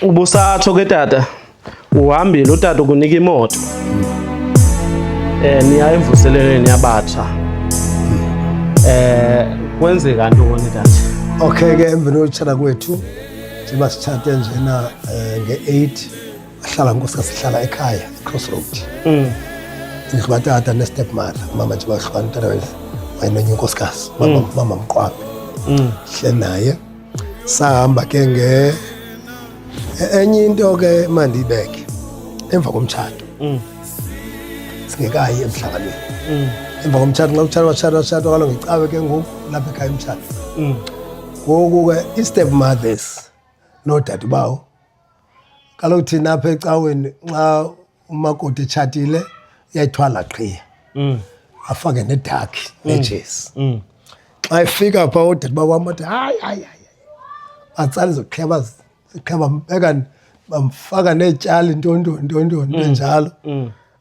Ubusatsho ke tata, uhambile utata ukunika imoto. Eh niya emvuselelweni yabatsha. Eh kwenzeka ntoni tata? Okay ke emveni kotshata kwethu siba sitshate njena eh, nge-8 ahlala nkosika sihlala ekhaya ecrossroad mm. indlu katata nestep mother mama nje bahlukana utata wenye wayenonye unkosikazi mama mm. mqwabe mm. hle naye Sahamba ke nge e-, enye into ke mandibeke emva komtshato. Mm. Singekayi emhlanganweni. Mm. Emva komtshato nxa kutshato watshato watshato kalo ngecawe ke ngoku lapha ekhaya umtshato. Mm. Ngoku ke i-step mothers noodade bawo kaloku thina apha ecaweni nxa umakoti etshatile uyayithwala qhiya mm. afake nedakhi mm. nejezi mm. xa efika pha odade bakwam athi hayi hayi hayi batsali zoqhiya ziqhiya bambeka bamfaka neetyali ntontoni ntontoni enjalo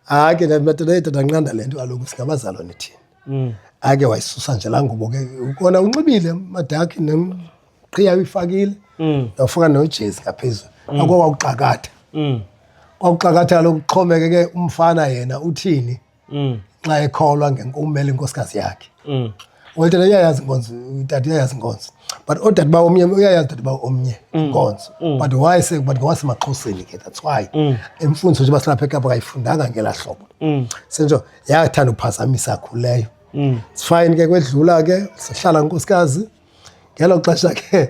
hayi ke madoda yedada nqanda le nto kaloku singabazalwane thina ake wayisusa nje laa ngubo ke ukona unxibile madakhi qhiya uyifakile mm. yawufaka nojezi ngaphezulu mm. akho wawuxakatha mm. wawuxakatha kaloku kuxhomekeke umfana yena uthini xa ekholwa ngenkumela inkosikazi yakhe wetata uyayazi inkonzo utata uyayazi inkonzo but odade ba omnye uyayazi dade ba omnye inkonzo but why se but ngowasemaxhoseni ke that's why imfundiso nje basilapha ekapa kayifundanga ngela hlobo senjo yathanda uphazamisa khuleyo sifayini ke kwedlula ke sihlala nkosikazi ngelo xesha ke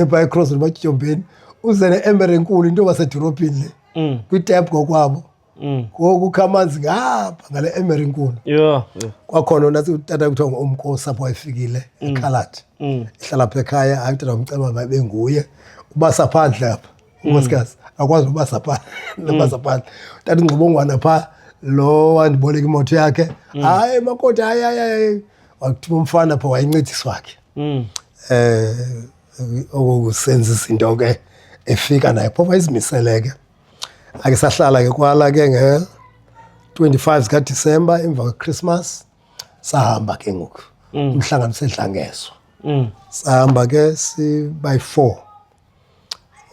phaa ecrossroad batyityombeni uze ne-emere enkulu into basedorophini le mm. kwitep ngokwabo mm. ngoku kha amanzi ngapha ngale emere enkulu kwakhona ona utata kuthiwa ngomkosi apho wayefikile mm. ekhaladi ehlala pha ekhaya hayi utata wamceba mabe nguye ubasa phandle apha unkosikazi akwazi nobasa phaa nobasa mm. phandle tata ingxobongwana phaa lo wandiboleka imoto yakhe mm. hayi mm. makoti hayi hayi hayi wakuthuma umfana pha wayincedisi wakhe mm. eh okusenza izinto ke efika naye phofa izimisele ke ake sahlala ke kwala ke nge 25 zika December emva kwe Christmas sahamba ke ngoku mm. umhlangano sedlangezwa mm. sahamba ke si by 4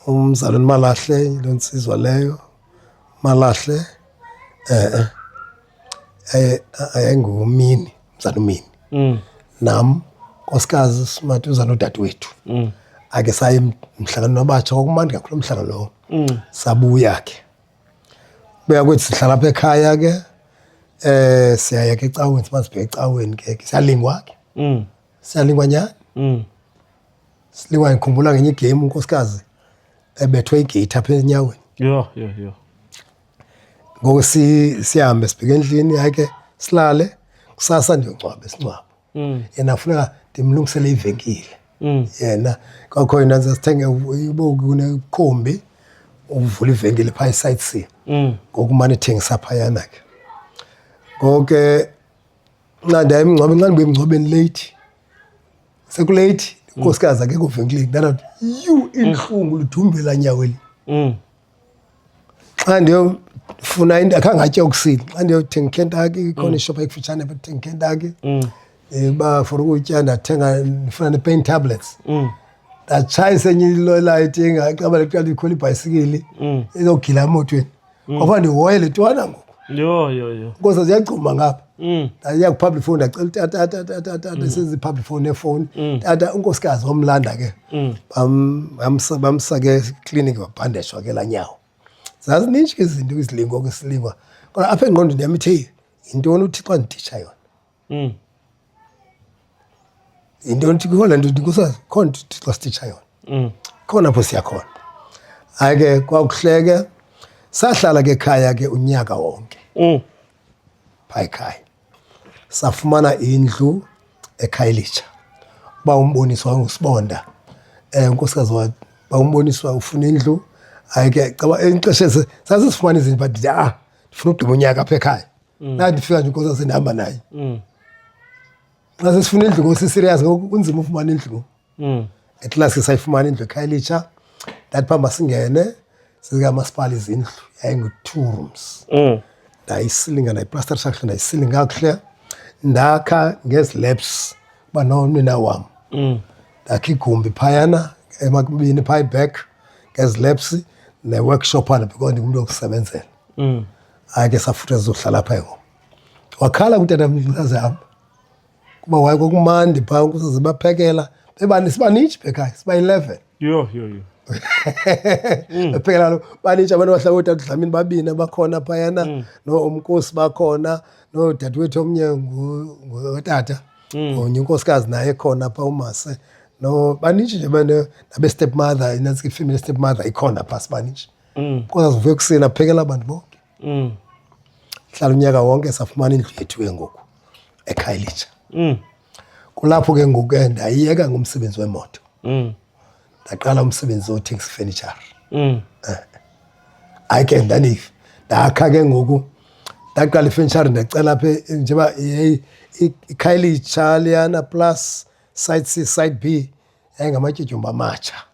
Umzalwana uMalahle yiloo ntsizwa leyo. UMalahle e-e yayingumini, umzala umini. Mm. Nam nkosikazi simathi uza nodadewethu. Mm. Ake saye emhlanganweni wabatsha, kwakumandi kakhulu loo mhlangano lowo. Mm. Sabuya ke. Buya kwethu sihlala apha ekhaya ke. Eh siyaya ke ecaweni, siba sibheke ecaweni ke, siyalingwa ke. Mm. Siyalingwa nyhani? Mm. Silingwa ngikhumbula ngenye igame unkosikazi ebethwe igate apha enyaweni. Yho, yho, yho. Ngoku si sihambe sibheke endlini yake silale kusasa ndiyongcwaba isingcwabo. Mm. Yena funeka ndimlungisele ivenkile. Mm. Yena kwakho yena sithenge ibo kunekhombi uvula ivenkile phaa i-site C. Mm. Ngokumane ethengisa phayana ke. Ngoku ke Nqanda emngcwabeni nxa ndibuye emngcwabeni leyithi sekuleyithi inkosikazi akekho venkileni ndanathi yu intlungu ludhumbela nyaweli mm. xa ndiyofuna into akhange atye okusini xa ndiyothenga ikentaki ikhona mm. ishopha ekufitshane bathenga ikentaki mm. eh, uba for ukutya ndathenga ndifuna ne-pain tablets ndatshayisa enye ilolayiti engaqaba leqala ikhona ibhayisikili izogila emotweni mm. kwaba ndihoye le twana ngoku yho yho yho nkosa ziyagcuma ngapha mm. ndayiya kwi-public phone ndacela tata tata tata mm. sezi-public phone efowuni mm. tata unkosikazi wamlanda ke mm. bamsa ke ekliniki babhandeshwa ke laa nyawo zazininji ke izinto izilingwa ke silingwa kodwa apha engqondweni yam ithe yintoni uthixo anditsha yona Mm. Ndio ntikona ndio ndikusa khona Thixo sititsha yona. Mm. Khona pho siya khona. Hayi ke kwakuhleke sahlala ke khaya ke unyaka wonke. Mm. Phayi khaya. Safumana indlu eKhayelitsha. Ba umboniswa ngusibonda. Eh unkosikazi wa ba umboniswa ufuna indlu. Hayi ke caba enixeshe sasifumana izinto but ah ndifuna ugqiba unyaka apha ekhaya. mm. nandifika nje inkosi sendihamba naye mm. xa sesifuna indlu ngoku siserious ngoku kunzima ufumana indlu ngoku mm. at last ke sayifumana indlu ekhaya elitsha ndathi phambi masingene sezikamasipala izindlu yayingu-two rooms mm. ndayisilinga ndayiplaster sakhle ndayisilinga kakuhle ndakha ngezilabs uba nomnina wam mm. ndakha igumbi phayana emakubini phaa iback ngezilabs ne-workshop ana because ndingumntu wokusebenzela mm. hayi ke safutha sizohlala pha yoko wakhala kutatamnikazi yam kuba waye kwakumandi phaa ukusaze baphekela bebani sibanitshi bhekhaya siba-eleven yho yho yho Mm. ephekela lo banitsha abantu bahlaba ootata udlamini babini abakhona phayana mm. noomkosi bakhona noodadewethu omnye ngotata mm. onye unkosikazi naye khona pha umase no banintshi nje nabestep mother inantsike ifemeli step mother ikhona pha sibanintshi mm. kwazi uve ekuseni aphekela abantu bonke mm. hlala unyaka wonke safumana indlu yethu ke ngoku ekhayelitsha mm. kulapho ke ngoku ke ndayiyeka ngomsebenzi wemoto mm. ndaqala umsebenzi wothengisa ifenitshere mm. Eh. hayi ke ndanive ndakha ke ngoku ndaqala ifenitshere ndacela apha njengoba ikhayelitsha liyana plus side c side b yayingamatyutyumba amatsha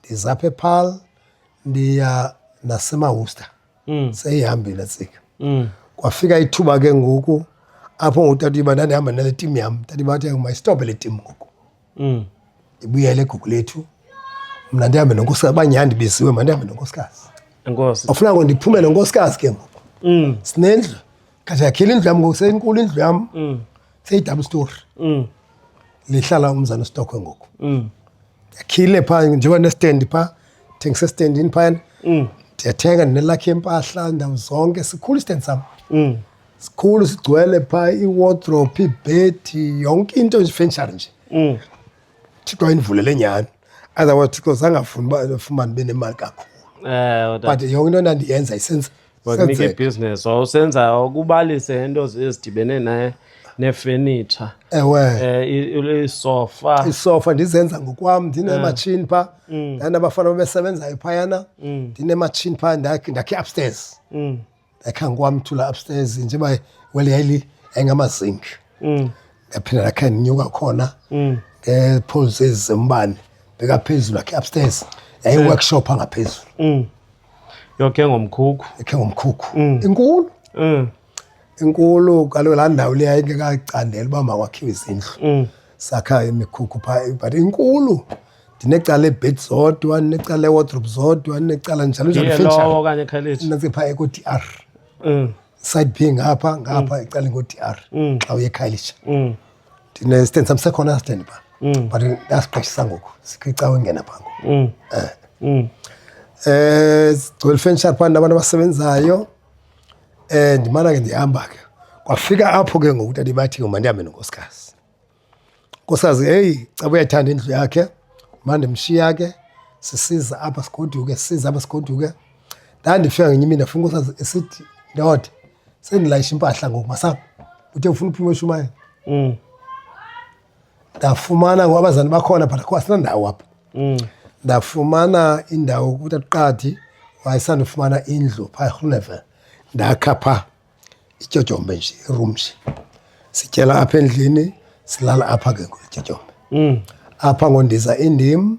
ndiza apha ephal ndiya nasemawusta mm. seyihambile tsika mm. kwafika ithuba ke ngoku apho ngutata uba ndandihamba nale tim yam tata uba athi mayistophe le tim ngoku mm. ibuyele egugu lethu mna ndihambe nonkosikazi banyhani ndibiziwe mna ndihambe nonkosikazi ofuna ngo ndiphume nonkosikazi ke ngoku mm. sinendlu kade yakhile indlu yam ngoku seyinkulu indlu yam mm. seyidaba isitori mm. lihlala umzana stockwe ngoku mm. yakhile phaa njengoba nestendi phaa thengisa estendini phayana mm. ndiyathenga ndinelakhi yempahla ndawo zonke sikhulu istendi sam mm. sikhulu sigcwele phaa iwardrope ibhedi yonke into ifenshari nje mm. thixo ayindivulele nyhani otherwise thixo zangafuni uba fumane benemali kakhulu eh, but yonke into endandiyenza isenza bakunike ibhizinesi wawusenza ukubalise into ezidibene naye nefenitsha ewe eh, isofa isofa ndizenza ngokwam ndinematshini eh. pha mm. ndanabafana babesebenzayo phayana mm. ndinematshini pha ndakhe upstairs mm. ndakhe ngikwamthula upstairs njengoba wele yayili yayingamazink ndaphinda ndakhe ndinyuka khona ngeepholes ezi zembane bekaphezulu akhe upstairs yayiworkshop angaphezulu yoke ngomkhukhu ekhe ngomkhukhu Mm. inkulu Mm, inkulu kaloku laa ndawo leya ingekacandela uba makwakhiwe izindlu mm, sakha imikhukhu phaa but inkulu ndinecala ebed zodwa ndinecala ewardrobe zodwa ndinecala njalo njalo iye fenjalo lowo okanye ekhayileji ndinetse phaa eko-d r Mm, side p ngapha ngapha ecaleni ko-d r mm, xa uye ekhayelitsha mm, ndinesitamsa khona stand pha mm. but ndasixhashisa ngoku sikwicawa engena pha ngoku um eh. mm. eh, gcwele ifenshar phaa nabantu abasebenzayo um ndimana ke ndihamba ke kwafika apho ke ngoku tata ibathi ngoma ndihambe nonkosikazi nkosikazi heyi caba uyayithanda indlu yakhe mandimshiya ke sisiza apha sigoduke sisiza apha sigoduke Ndandifika ngenye imini ndafuna usazi esithi ndoda sendilayisha impahla ngoku masapho uthe ufuna uphuma eshumayela mm. ndafumana ngoku abazali bakhona but akho asinandawo apha mm. ndafumana indawo kuthi atuqadi wayesandifumana indlu phaa erhuleve ndakha phaa ityotyombe nje irum nje sityela apha endlini silala apha ke ngoku ityotyombe mm. apha ngondiza indim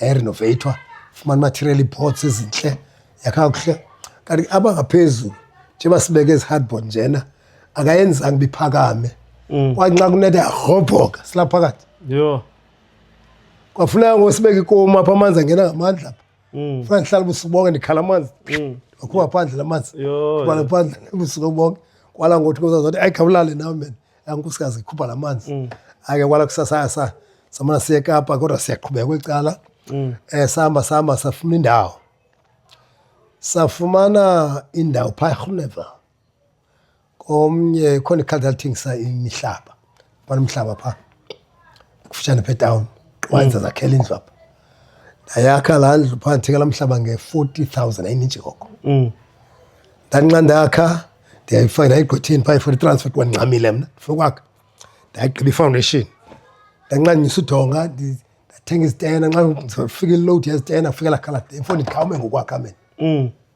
yayirenovatwa fumana material ipots ezintle yakakuhle kanti aba ngaphezulu njengoba sibeke ezihardboard njena akayenzanga uba iphakame mm. kwanxa kunetha yarhobhoka silapha phakathi yho kwafuneka ngosibeka ikomu apha amanzi angena ngamandla apha mm. funa ndihlala ubusuku bonke ndikhala amanzi mm. wakhupha phandle la manzi ubala phandle ubusuku bonke kwala ngothi kuzazothi ayikhawulale nawe mena Unkosikazi ikhupha la manzi mm. ake kwala kusasa sa samana siye eKapa kodwa siyaqhubeka kwicala mm. eh sihamba sihamba safuna indawo safumana indawo phaa erhuleva komnye khona ikhadi lathengisa imihlaba bana umhlaba phaa kufutshane pha etawuni wayenza zakhela indlu apha ndayakha laa ndlu phaa ndithengela mhlaba nge-forty thousand ayinintshi koko mm. ndanxa ndakha ndiyayifaka ndayigqwetheni phaa i-forty transfer kuba ndincamile mna ndifuna ukwakha ndayigqiba ifoundation ndanxa ndinyisa udonga ndathenga izitena nxa ndifika ilowudi yezitena kufikela khala ndifo ndikhawume ngokwakha mina mm.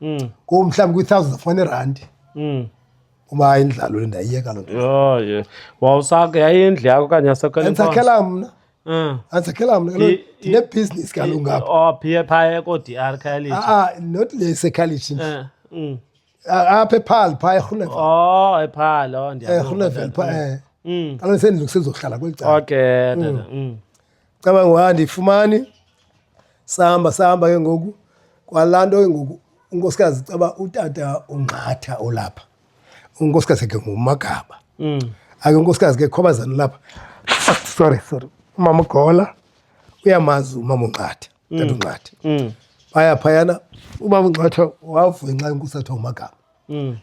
mm. kum mhlawumbi kwi-thousand of one randi mm. uba hayi indlalo le ndayiyeka loo nto wawusake yayindlu yakho okanye yasekwendisakhela mna mm. andisakhela mna ndinebhizinisi kaloku ngapha oh, phe phaya ko-d r college aa ah, ah, not le isecollege nje eh, mm. apha ephal phaa erhunevel o ephal o erhunevel phaa e kaloku sendilungisezokuhlala kweli cala okay cabanga uba andiyifumani sahamba sahamba ke ngoku kwalaa nto ke ngoku unkosikazi caba utata ungqatha olapha unkosikazi ke ngumagaba mm. ake unkosikazi ke khobazana lapha sorry sorry umama ugola uyamazi umama ungqatha mm. tata ungqatha mm. phaya phayana umama ungqatha wavunxa inkosi athiwa ngumagaba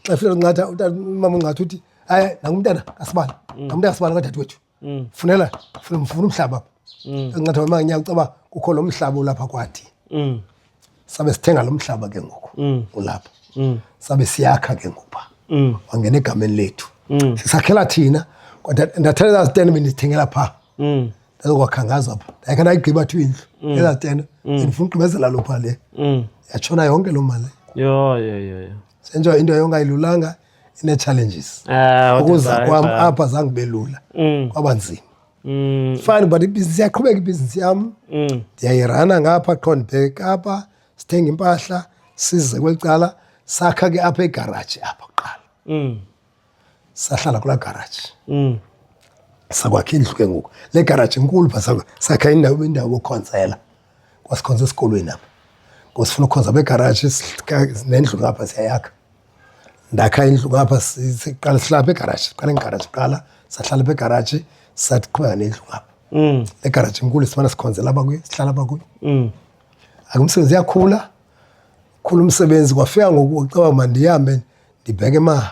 xa fika ungqatha umama ungqatha uthi hayi nangumntana kasibani nangumntana kasibani kadade wethu mm. funela funa mfuna umhlaba apha mm. encathi wema nyaka ucaba kukho lo mhlaba ulapha kwathi mm. sabe sithenga lo mhlaba ke ngoku mm. ulapha mm. sabe siyakha ke ngoku pha mm. wangena egameni lethu mm. sisakhela thina kodwa ndathela ezaa zitene bendizithengela phaa mm. ndazokwakhangaza pha ndayikhe ndayigqiba thiwa indlu mm. ezaa zitene mm. ndifuna ugqibezela lo phaa le mm. yatshona yonke loo mali senjengoba into yonke ayilulanga ine-challenges ah, ukuza kwam apha zange kube lula mm. kwaba nzima mm. fine but ibhizinisi iyaqhubeka ibhizinisi yam mm. ndiyayirana ngapha qho ndibheke apha sithenga impahla size kweli cala sakha ke apha egaraji apha kuqala sahlala kulaa garaji sakwakha indlu ke ngoku le garaji inkulu pha sakha indawo indawo yokhonzela kwasikhonza esikolweni apha ngosifuna ukhonza begaraji nendlu ngapha siyayakha ndakha indlu ngapha siqala sihlala begaraji siqala ngegaraji kuqala sahlala begaraji sathi qhubeka nendlu ngapha mm. egaraji enkulu simane sikhonzela abakuyo sihlala abakuyo mm. akumsebenzi yakhula khula umsebenzi kwafika ngoku caba mandihambe ndibheke ma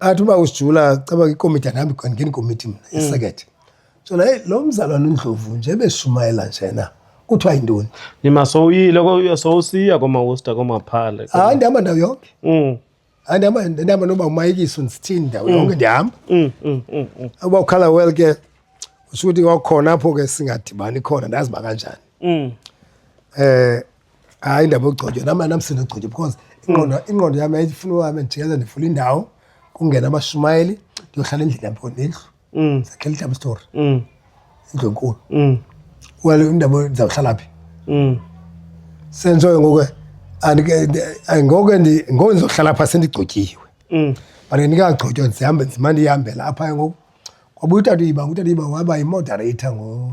athi uba usijula caba ikomiti andihambi ndingena ikomiti mna mm. isekethe so naye lo mzalwana undlovu nje beshumayela njena kuthiwa yintoni nima sowuyile sowusiya komawusta komaphale hayi ah, ndihamba ndawo yonke mm. hayi ndihamba ndihamba noba umayikiso ndisithini ndawo yonke mm. ndihamba uba ukhala well ke usho ukuthi kwakhona apho ke singadibani khona ndazi bakanjani um hayi indaba yokugcotywa nam anamsini ogcotywa because ingqondo ingqondo yam yayifuna uhambe ndijikeza ndifuna indawo kungena amashumayeli ndiyohlala endlini yam because nendlu Mm, zakhela idouble story mm, indlu enkulu mm, wale indaba ndizawuhlala phi mm. sentshoyo ngoku andike- ndi- ay, ngoku ndi- ngoku ndizohlala phaa sendigcotyiwe Mm. but ndingagcotywa ndizihambe ndizimane ndiyihambela apha ke ngoku kwabuya utata uyiba utata uyiba waba yimoderator ngo-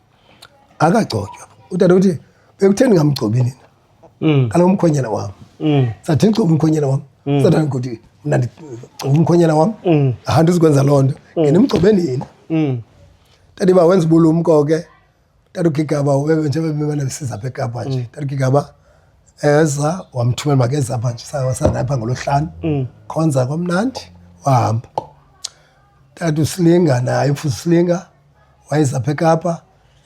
akagcotywa utata uthi bekutheni ngamgcobi nina mm. kaloku umkhwenyana wam mm. sathi ndigcoba umkhwenyana wam mm. sathani kuthi mna ndigcoba umkhwenyana wam aha ndizikwenza loo nto ngenimgcobe nina tata uba wenza ubulumko ke tata ugigaba njengoba bemane besiza apha ekapa nje tata ugigaba eza wamthumela makeza apha nje wasanapha ngolohlanu khonza kwamnandi wahamba tata usilinga naye futhi usilinga wayeza apha ekapa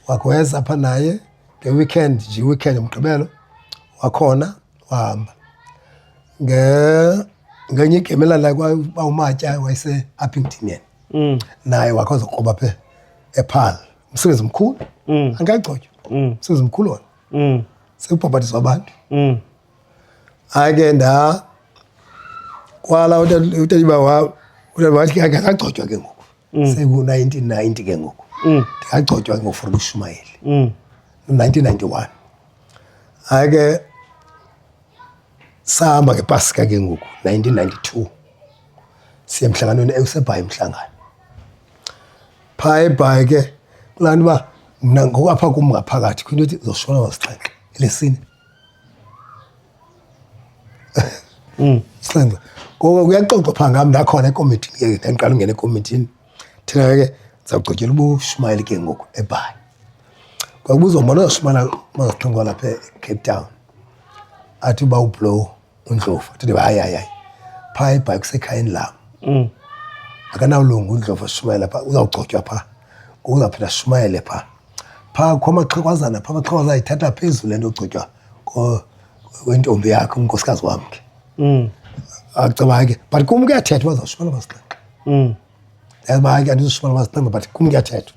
wakhaweza apha naye ngeweekend nje iweekend ngomgqibelo wakhona wahamba nge ngenye igame elandelayo kwaba umatya wayese appington yena mm. naye wakho zokroba phe ephal umsebenzi omkhulu mm. angayigcotywa mm. umsebenzi omkhulu wona mm. sekubhabhatiswa abantu mm. hayi ke nda kwala utatiba wathi akagcotywa ke ngoku mm. seku-1990 ke ngoku mm. ndingagcotywa ke ngofuna ushumayeli mm. 1991 hayi ke sahamba ngepasika ke ngoku 1992 siye emhlanganweni ewusebhayi umhlangano phaa ebhayi ke kulaa nto uba mna ngokwapha kum ngaphakathi kwinto ethi zoshona wasixhenxe elesine Mm. Sixhenxe. Ngoba kuyaxoxwa pha ngam ndakhona ekomithini ke ndandiqala ungena ekomithini. Thina ke sawugqityela ubushumayeli ke ngoku eBhayi. Kwakubuzwa mbona uyashumayela mazixhenxwa lapha eCape Town. Athi uba ublow undlovu athi hayi hayi hayi phaa ibhayi kusekhayeni lam mm. akanawulunga undlovu ashumayela phaa uzawugcotywa phaa ngoku uzawuphinda ashumayele phaa phaa kukho amaxhekwazana phaa amaxhekwaza ayithatha phezulu le nto ogcotywa wentombi yakhe unkosikazi wam ke mm. acaba ke but kum kuyathethwa uba zawushumayela masixhenxe mm. yazi uba ke andizushumayela masixhenxe but kum kuyathethwa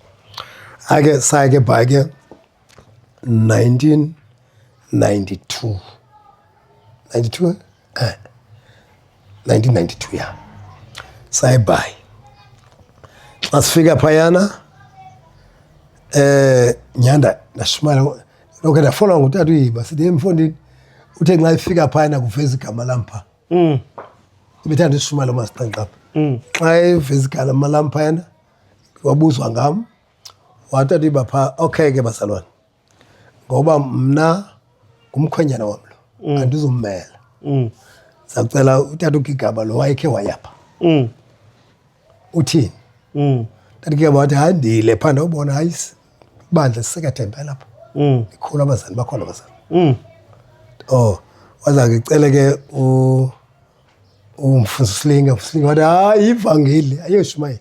ake saye ke bhayi ke 1992 92 eh 1992 ya sayibhayi xa sifika phayana eh nyanda ndashimala lokho ndafola ngutata uyiba sithi emfondini uthe nxa ifika phayana kuveza igama lam pha mm. ibithanda isishumala umasixanqapha mm. xa eveza igama lam phayana wabuzwa ngam Watatiba phaa, okay ke bazalwane, ngoba mna ngumkhwenyana wam lo mm. andizummela. Mm. Sacela utata ugigaba lo wayekhe wayapha. Mm. Uthini? Mm. Tata ugigaba wathi hayi ndile phaa ndawubona hayi bandla sisekathembe lapho. Mm. Ikhulu abazali bakhona abazali. Mm. Oh, waza ke cele ke u umfundisi Slinga, uSlinga wathi hayi ivangeli ayoshumayela.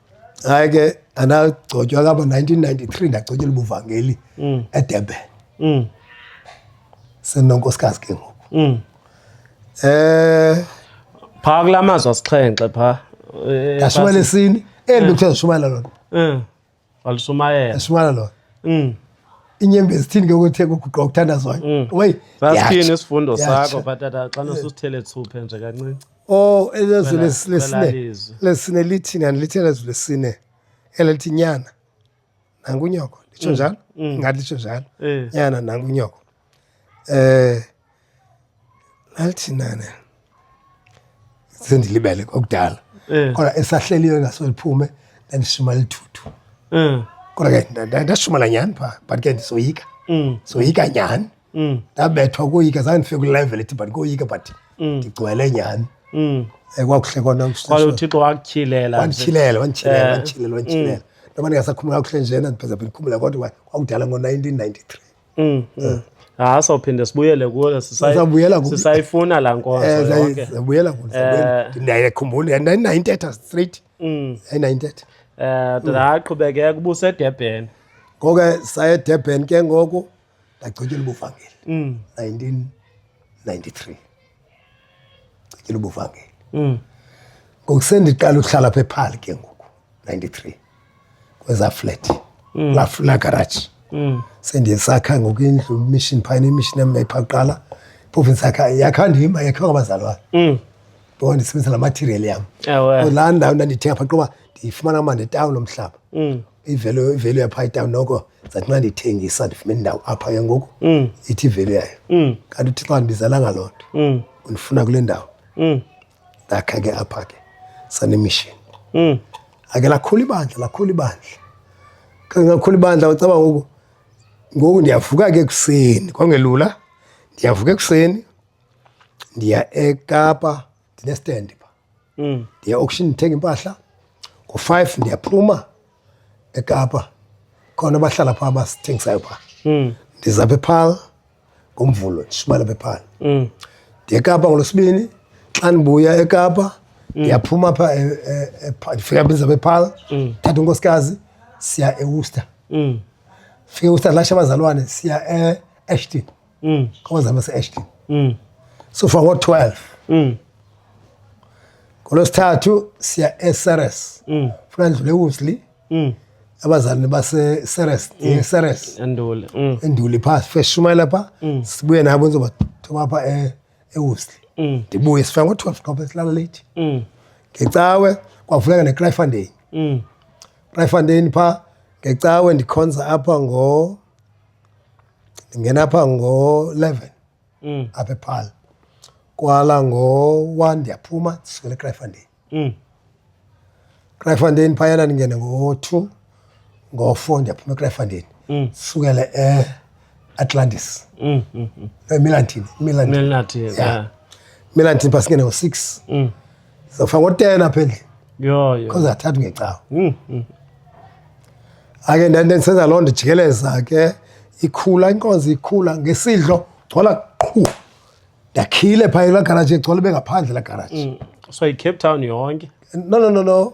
hayi ke andagcotywa kabo 1993 ndagcotyela ubuvangeli mm. edurban mm. senonkosikazi ke ngoku mm. eh phaa kula mazwi asixhenxe phaa eh, ndashumayela esini eli eh. bekuthiwa zishumayela lona eh. walishumayela ashumayela lona inyembe zithini ke ukuthi kuguqa ukuthandazwayo mm. wey sasithini isifundo sakho bhatata xa nosusithele thuphe nje kancinci Oh, elezwi Kwela- les- lesine kwelalizwi. lesine lithini andilithini elezwi lesine elithi nyana nangunyoko litsho njalo ngathi litsho njalo Mm, Eh. nyana nangunyoko eh lalithi nane sendilibele kokudala Eh. kodwa esahleliyo ingaso liphume ndandishuma lithuthu Eh. kodwa ke nda- nda- ndashumala nyhani phaa but ke ndisoyika Mm. soyika nyhani mm. ndabethwa koyika zange ndifike kwilevel ethi but koyika but mm. ndigcwele nyhani mm. eh, kwakuhle kona uthixo wakutyhilela wandityhilela wandityhilela eh. wandityhilela wandityhilela ndoba ndingasakhumula kakuhle njena ndipheza phi ndikhumula kodwa kwakudala ngo-nineteen ninety three mm, eh. ha ah, sawuphinde sibuyele kuyo sisayifuna laa nkonzobuyela kuyo ndiyayikhumbula yandinayintetha straight yayinayintetha um ndaqhubekeka ubusedebheni ngoko ke saye edebheni ke ngoku ndagcityela ubuvangeli mm. 1993 gcityela ubuvangeli mm. ngoku sendiqala ukuhlala apha ephali ke ngoku 93 kweza flat mm. la, la garage mm. sendiyesakha ngoku indlu mission phayina imission yam yayipha kuqala phofu ndisakha yakha ndima yakhiwa ngabazali wayo mm. ngoba ndisebenzisa la material yam la ndawo ndandithenga pha qoba ndiyifumana uma nditawuni lomhlaba mm. ivelo ivelo yapha itawu noko zathi xa ndithengisa ndifumene indawo apha ke ngoku mm. ithi ivelo yayo mm. kanti uthi xa ndibizalanga loo nto mm. undifuna kule ndawo ndakha ke apha ke sanemishini ake lakhula ibandla lakhula ibandla kangakhula ibandla ucaba ngoku ngoku ndiyavuka ke ekuseni kwangelula ndiyavuka ekuseni ndiya ekapa ndinestand pha mm. ndiya auction ndithenga impahla ngo-five ndiyaphuma ekapa khona abahlala phaa abasithengisayo phaa mm. ndiza phephala ngomvulo ndishumana phephala mm. ndiye ekapa ngolwesibini xa ndibuya ekapa ndiyaphuma pha e, e, e, ndifika biza phephala thatha unkosikazi siya ewuster fika ewuster lasha abazalwane siya eashton mm. kwamazama ase-ashton mm. sofa ngo-12 mm. ngolwesithathu siya eseres mm. funa ndlule ewusley mm. abazalini baseseres mm. seres enduli mm. enduli phaa first shumayela phaa mm. sibuye nabo ndizobathoba phaa e, ewusley mm. ndibuye sifika ngo-12 ngoba silala leyithi mm. ngecawe kwavuleka necryfondain mm. cryfondain phaa ngecawe ndikhonza apha ngo Ndingena pha ngo-eleven mm. apha ephal kwala ngo-one ndiyaphuma ndisukela ekrayfandeni mm. krayfandeni phayana ndingene ngo-two ngo-four ndiyaphuma ekrayfandeni mm. sukele e-atlantis mm, mm, mm. no, milantin milantin yeah. yeah. milantin pha singene ngo-six mm. Sofa ngotena apha endlini. Yho yho. Because athatha ngecawa. Mm. mm. Ake ndande ndisenza loo nto jikeleza ke ikhula inkonzo ikhula ngesidlo gcwala qhu. Ndakhile phaa la garage egcwala bengaphandle la garage. Mm. So i Cape Town yonke. No no no no.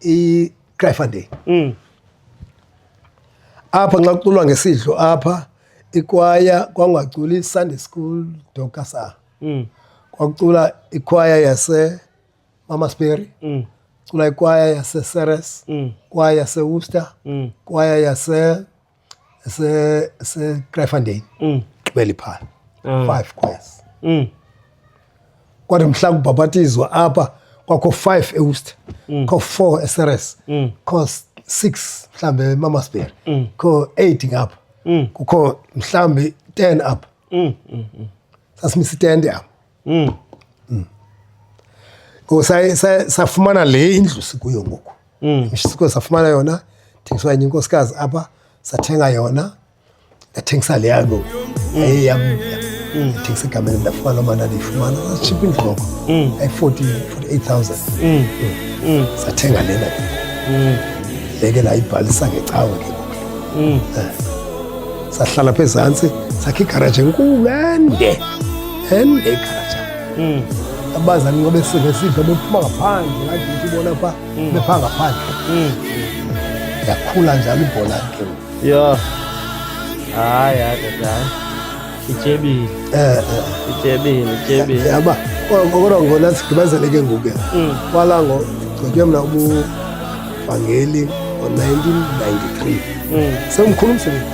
i Kraaifontein mm. apha nxa kuculwa ngesidlo apha ikwaya kwangaculi Sunday school dokasa mm. kwakucula ikwaya yase Mama Sperry mm. cula ikwaya yase Ceres mm. kwaya yase Worcester mm. kwaya yase esekrefandeni mm. gqibela iphala ah. five kwes mm. kwathi mhla kubhabhatizwa apha kwakho five eust mm. kho four eseres kho six mhlawumbi emamasberi kho eight ngapha kukho mhlawumbi ten apha sasimisitende apho mm. mm. ngoku safumana le indlu sikuyo ngoku mm. sikuyo safumana yona thengiswa enye inkosikazi apha sathenga yona ndathengisa le yangoku mm. ayeyam mm. thengisa egameni ndafumana omana ndiyifumana sashipha indlu ngoko ayi-forty forty eight thousand sathenga lena leke ndayibhalisa ngecawe ke mm. eh, sahlala pha ezantsi sakhe igaraji enkulu ende ende igaraji mm. abazali ngoba esive sive bephuma ngaphandle ngadithi bona pha mm. bepha ngaphandle mm. yakhula njalo ibhola ke ya hayi hayi ityebile eh, eh. ityebile ityebile yaba kodwa ngona sigqibazele ke ngoku mm. kwala ngo gqitywe mna ubuvangeli ngo-1993 mm. semkhulu umsebenzi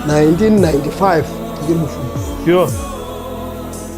1995 mm. ndikebufuni yho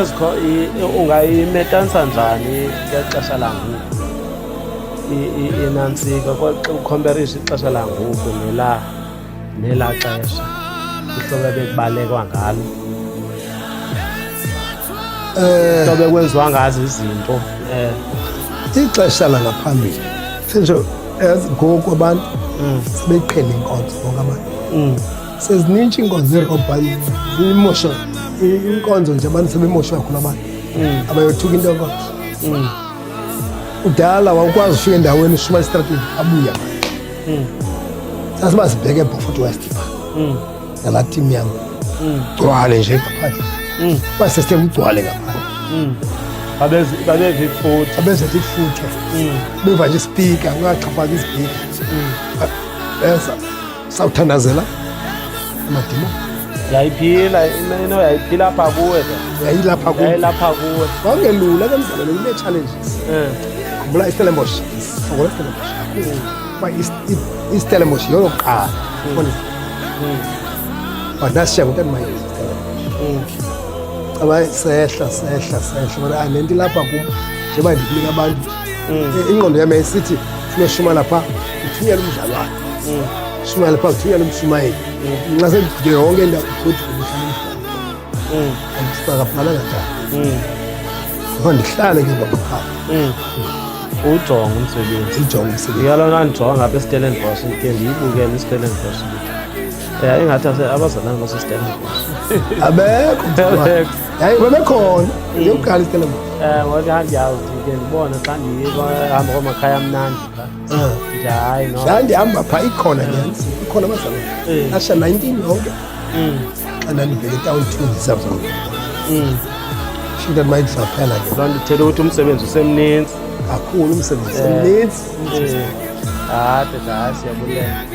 ezikho ungayimetanisa njani ngexesha langoku inantsika ukhomperiso ixesha langoku nela nela xesha ihlobo ebekubalekwa ngalo eh. hlobo ekwenziwa ngazo izinto eh. ixesha langaphambili sinjalo ngoku abantu mm. sebeqhele inkonzo bonke abantu mm. sezinintsha iinkonzo zeerobhayi imosha inkonzo nje abantu sebemosha kakhulu abantu mm. abayothuka into yoko mm. kudala wawukwazi ufika endaweni ushuma esitratweni abuya mm. sasiba sibheke ebofort west pha nalaa tim yam gcwale nje ngaphandle uba sesithe kugcwale ngaphandle babeve ifutha babezete ifutha beva nje isipika ungaxhaphaki isipika sawuthandazela amadima yayiphila ino yayiphila apha kuwe yayilapha kuwe yayilapha kuwe wawungelula ke mzalelo ine challenge eh bula istelembosh ngoba istelembosh ba istelembosh yolo qala ubona badasha hmm. ngotani maye hmm. caba sehla sehla sehla bona anenti ah, lapha kum njengoba ndikunika abantu hmm. eh, ingqondo yami yayisithi sinoshuma lapha uthunyela umdlalo wakhe shumayela phaa kuthunyela umshumayeli nxasekugile yonke into kuthi ndisakaphalanga njani ngoko ndihlale ke ngaphaa uwujonga umsebenzi ndijonga umsebenzi iyalona ndijonga ngapha estellenbosh ke ndiyibukele istellenbosh ya ingathi abazalana basestellenbosh abekho yayi babekhona ndiyokuqala istellenbosh um wake handiyazi ke ndibone xa ndihamba kwamakhaya amnandi hayi no ndandihamba phaa ikhona nyanzi ikhona abazalwana Eh. asha 19 yonke Mm, xa ndandibheke etawuni two ndisazona mm. shinto ndimaye ndisaphela ke loo nto ithetha ukuthi umsebenzi usemninzi kakhulu umsebenzi mninzi Eh, hayi hayi siyabulela